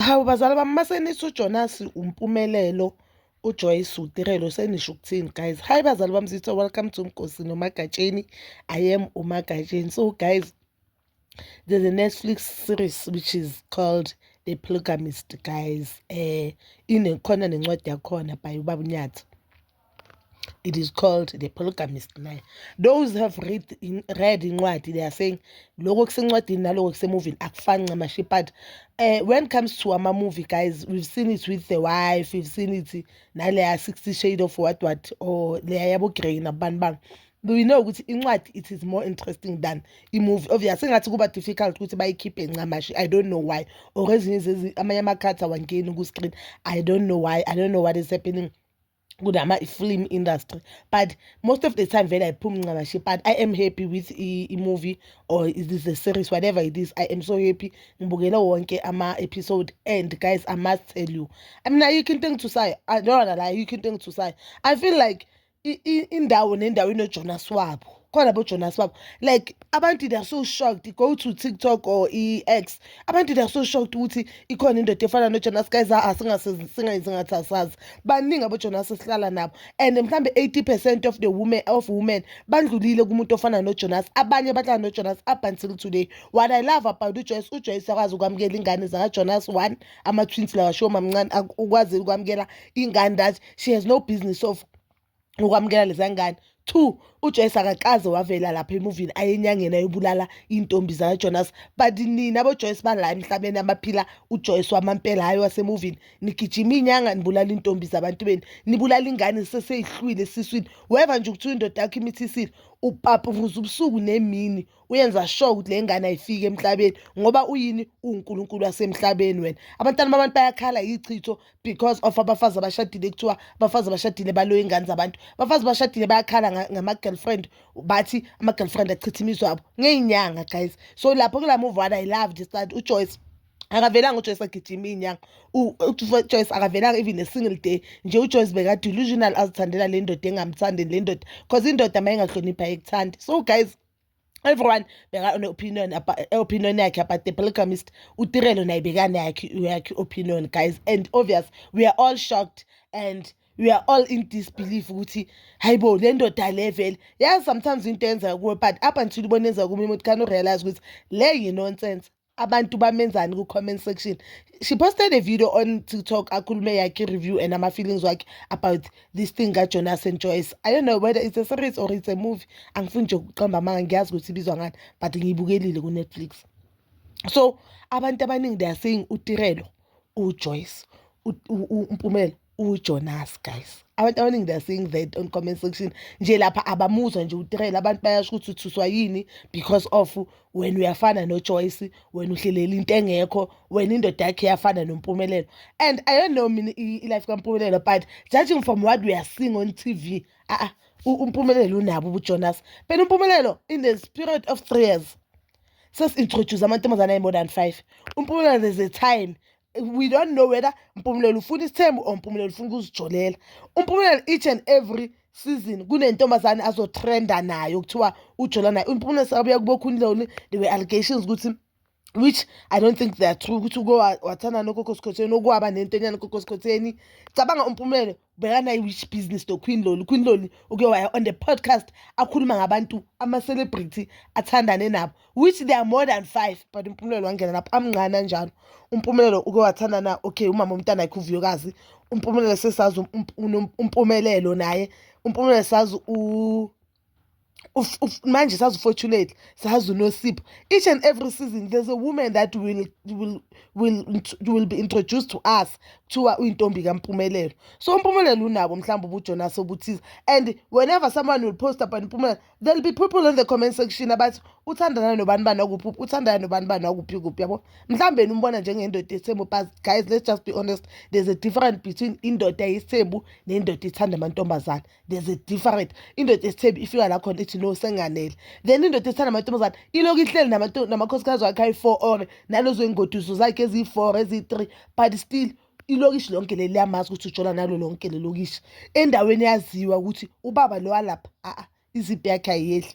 Hawu bazali bami uma senithi uJonas uMpumelelo uJoyce uTirelo senisho ukuthini guys hayi bazali bami sithe welcome to Nkosi noMagatsheni I am uMagatsheni so guys there's a Netflix series which is called The Polygamist guys eh inekhona nencwadi yakhona by ubaba uNyathi it is called the polygamist line those have read in, read incwadi they are saying loko kusencwadini naloko kusemuvini akufani ncamashi but uh, when it comes to ama-movie guys we've seen it with the wife we've seen it naleya 60 shade of what what or leya yabogrey nabani bani we know ukuthi incwadi it is more interesting than imovie obvious sengathi kuba difficult ukuthi bayikhiphe ncamashi i don't know why or ezinye amanye amakhathi awangeni ku-screen i don't know why i don't know what is happening kunama film industry but most of the time vele ayiphumi ncakashe but i am happy with i-movie or it is a series whatever it is i am so happy ngibukele wonke ama-episode and guys i must tell you i mean ayikho into engithusayo ndona la ayikho into engithusayo i feel like indawo nendawo inojonas wabo khona bojonas babo like abantu they are so shocked go to tiktok or i-x abantu they are so shocked ukuthi ikhona indoda efana nojonas guys a-a singayenzi ngathi asazi baningi abojonas esihlala nabo and mhlawumbe 80 percent of the women of women bandlulile kumuntu ofana nojonas abanye bahlala nojonas up until today what i love about ujoyce ujoyce akwazi ukwamukela ingane zakajonas one ama-twins lawa show mamncane ukwazi ukwamukela ingane that she has no business of ukwamukela leza ngane two ujoyce akakaze wavela lapha emuvini aye enyangeni ayobulala iy'ntombi zakajonas but nina bojoyce bala emhlabeni abaphila ujoyce wamampela hhayi wasemuvini nigijima iy'nyanga nibulala iy'ntombi zabantu benu nibulala ingane seseyihlwile esiswini weva nje ukuthiwa indoda yakho imithisile upapuvuza ubusuku nemini uyenza sure ukuthi le ngane ayifiki emhlabeni ngoba uyini uwunkulunkulu wasemhlabeni wena abantwana babantu bayakhala yichitho because of abafazi abashadile kuthiwa abafazi abashadile baloya ingane zabantu abafazi abashadile bayakhala ngama-girlfriend bathi ama-girlfriend achitha imizwa abo ngey'nyanga guys so lapho kula move one i love this that ujoyce akavelanga ujoyce agijima iy'nyanga ujoyce akavelanga even a single day nje ujoyce beka-delusional azithandela le ndoda engamthandi le ndoda because indoda uma ingahloniphi ayikuthandi so guys everyone beka-opinion opinion yakhe about the polygamist utirelo naye bekanayakhe yakhe opinion guys and obvious we are all shocked and we are all in disbelief ukuthi hayi bo le ndoda le vele yazi sometimes into yenza kuwe but up until ubona yenza kume umuntu khani urealize ukuthi le yinonsense abantu bamenzani ku-comment section she posted a video on tiktok akhulume yakhe review and ama-feelings wakhe about this thing kajonas and joyce i don't know whether it's a series or it's a movie angifuni nje ukuqamba amanga ngiyazi ukuthi ibizwa ngani but ngiyibukelile ku-netflix so abantu abaningi they are saying utirelo ujoyce umpumelo uJonas guys abantu abaningi they're saying that on comment section nje lapha abamuzwa nje utrela abantu bayasho ukuthi uthuswa yini because of wena uyafana noJoyce wena uhlelela into engekho wena indoda yakhe yafana noMpumelelo and i don't know mina i-life kaMpumelelo but judging from what we are seeing on TV ah, ah uMpumelelo unabo ubuJonas phela uMpumelelo in the spirit of 3 years sesintroduce amantombazana ayi-more than 5 uMpumelelo there's a time we don't know whether Mpumelelo ufuna isithembu or Mpumelelo ufuna ukuzijolela uMpumelelo each and every season kunentombazane azotrenda nayo kuthiwa ujola nayo uMpumelelo sekabuya kubokhuniloni there were allegations ukuthi which i don't think they are true ukuthi uke wathanda nogogosikhotheni okwaba nento enyana ugogosikhotheni cabanga umpumelelo bhekana i-which business to queen loli queen loli uke waya on the podcast akhuluma ngabantu ama-celebrity athandane nabo which they are more than five but umpumelelo wangena lapho amncane anjalo umpumelelo uke wathanda na okay umama umntana yakhe uvuyokazi umpumelelo sesazi um, um, um, umpumelelo naye umpumelelo sazi manje sazi ufortunate sazi unosipho each and every season there's a woman that will, will, will, will be introduced to us kuthiwa uyintombi kampumelelo so umpumelelo unabo mhlawumbe ubujonas obuthize and whenever someone will post about impumelelo there'll be people in the comment section abathi uthandana nobani bani wakuphi uthandana nobani bani wakuphi kuphi yabo mhlawumbe yena umbona njengendoda yesithembu but guys let's just be honest there's a difference between indoda yesithembu nendoda ithanda amantombazane there's a different indoda esithembi ifika la khona ithi no senganele then indoda esithanda amantombazane ilokhu ihleli namakhosikazi wakhe ayi-four or nalezo iy'ngoduso zakhe eziyi-four eziyi-three but still ilokishi lonke leli liyamazi ukuthi ujola nalo lonke lelokishi endaweni yaziwa ukuthi ubaba lo walapha a-a izimpi yakhe ayiyehli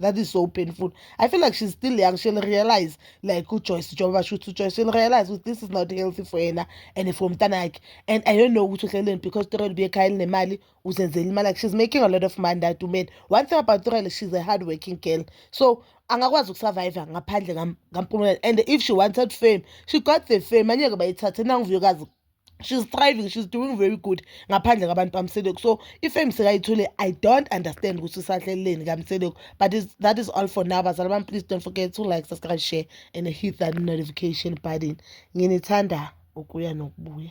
that is so painful i feel like she's still young she'll realize like ujoyce njengoba shuthi ujoyce she'll realize ukuthi this is not healthy for yena and for umntana yakhe and i don't know ukuthi uhleleni because turel ubekhaya elinemali uzenzela imali like she's making a lot of money that woman one thing about turel she's a hard working girl so angakwazi ukusurvive ngaphandle kampumelelo and if she wanted fame she got the fame anyeke bayithathe nanguvuyokazi she's thriving she's doing very good ngaphandle kwabantu bamseleko so ifame sekayithole i don't understand ukuthi usahleleleni kamseleko but is, that is all for now bazala bami please don't forget to like subscribe share and hit that notification button nginithanda ukuya nokubuya